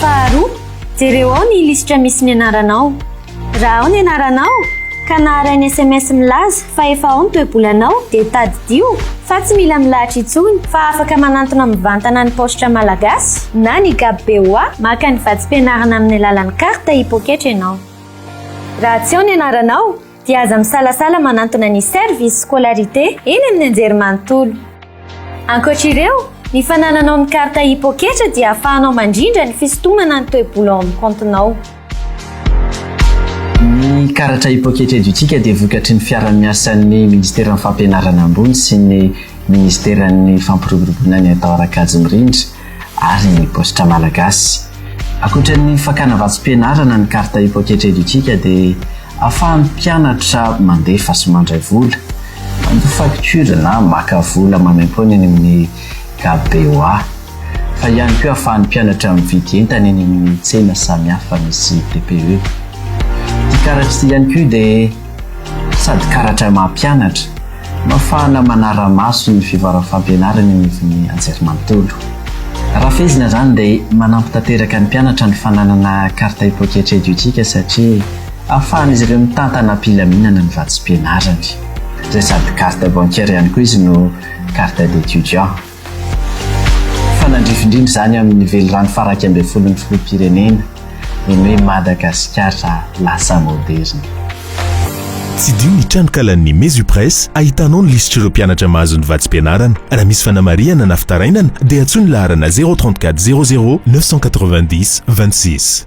Faharoa, jereo ao ny lisitra misy ny anaranao. Raha ao ny anaranao ka naharay ny sms milaza fa efa ao ny toe-bolanao dia tadidio fa tsy mila milahatra intsony fa afaka manantona mivantana ny paositra malagasy na ny GABBOA maka ny vatsim-pianarana amin'ny alalan'ny carte i-poketra ianao. Raha tsy ao ny anaranao, dia aza misalasala manantona ny service scolarité eny amin'ny anjerimanontolo. Ankoatra ireo, ny fanananao ny carte hipoketra dia afahanao mandrindra ny fisintomana ny toe-bola ao amin'ny kaontinao. Ny karatra hipoketra edutika dia vokatry ny fiara-miasan'ny Ministeran'ny Fampianarana Ambony sy ny Ministeran'ny Fampiroboroboana ny Atao Rakajy Mirindra. ary ny paositra malagasy. Ankoatra ny fakana vatsim-pianarana ny carte i Pocket Educika dia afahan'ny mpianatra mandefa sy mandray vola, mandoa facture na maka vola maimaimpoana eny amin'ny gab BOA, fa ihany koa afahan'ny mpianatra mividy entana eny amin'ny tsena samihafa misy TPE. Ity karatra ity ihany koa dia. Sady karatra mampianatra no afahana manara-maso ny fivoaram-fampianarana eny ivon'ny anjerimanontolo. Raha fehezina izany dia manampy tanteraka ny mpianatra ny fananana carte ipoketra edutika satria ahafahan'izy ireo mitantana am-pilaminana ny vatsim-pianarany izay sady carte bancaire ihany koa izy no carte d'étudiant. Fanandrifindrina izany amin'ny velirano fara iraika ambin'ny folon'ny filoham-pirenena ny hoe Madagasikara lasa moderina. Tsidiho ny tranonkalan'ny Mesupress ahitanao ny lisitr'ireo mpianatra mahazo ny vatsim-pianarana. Raha misy fanamarihana na fitarainana dia antsoy ny laharana zéro trente quatre zéro zéro neuf cent quatre-vingt-dix vingt-six.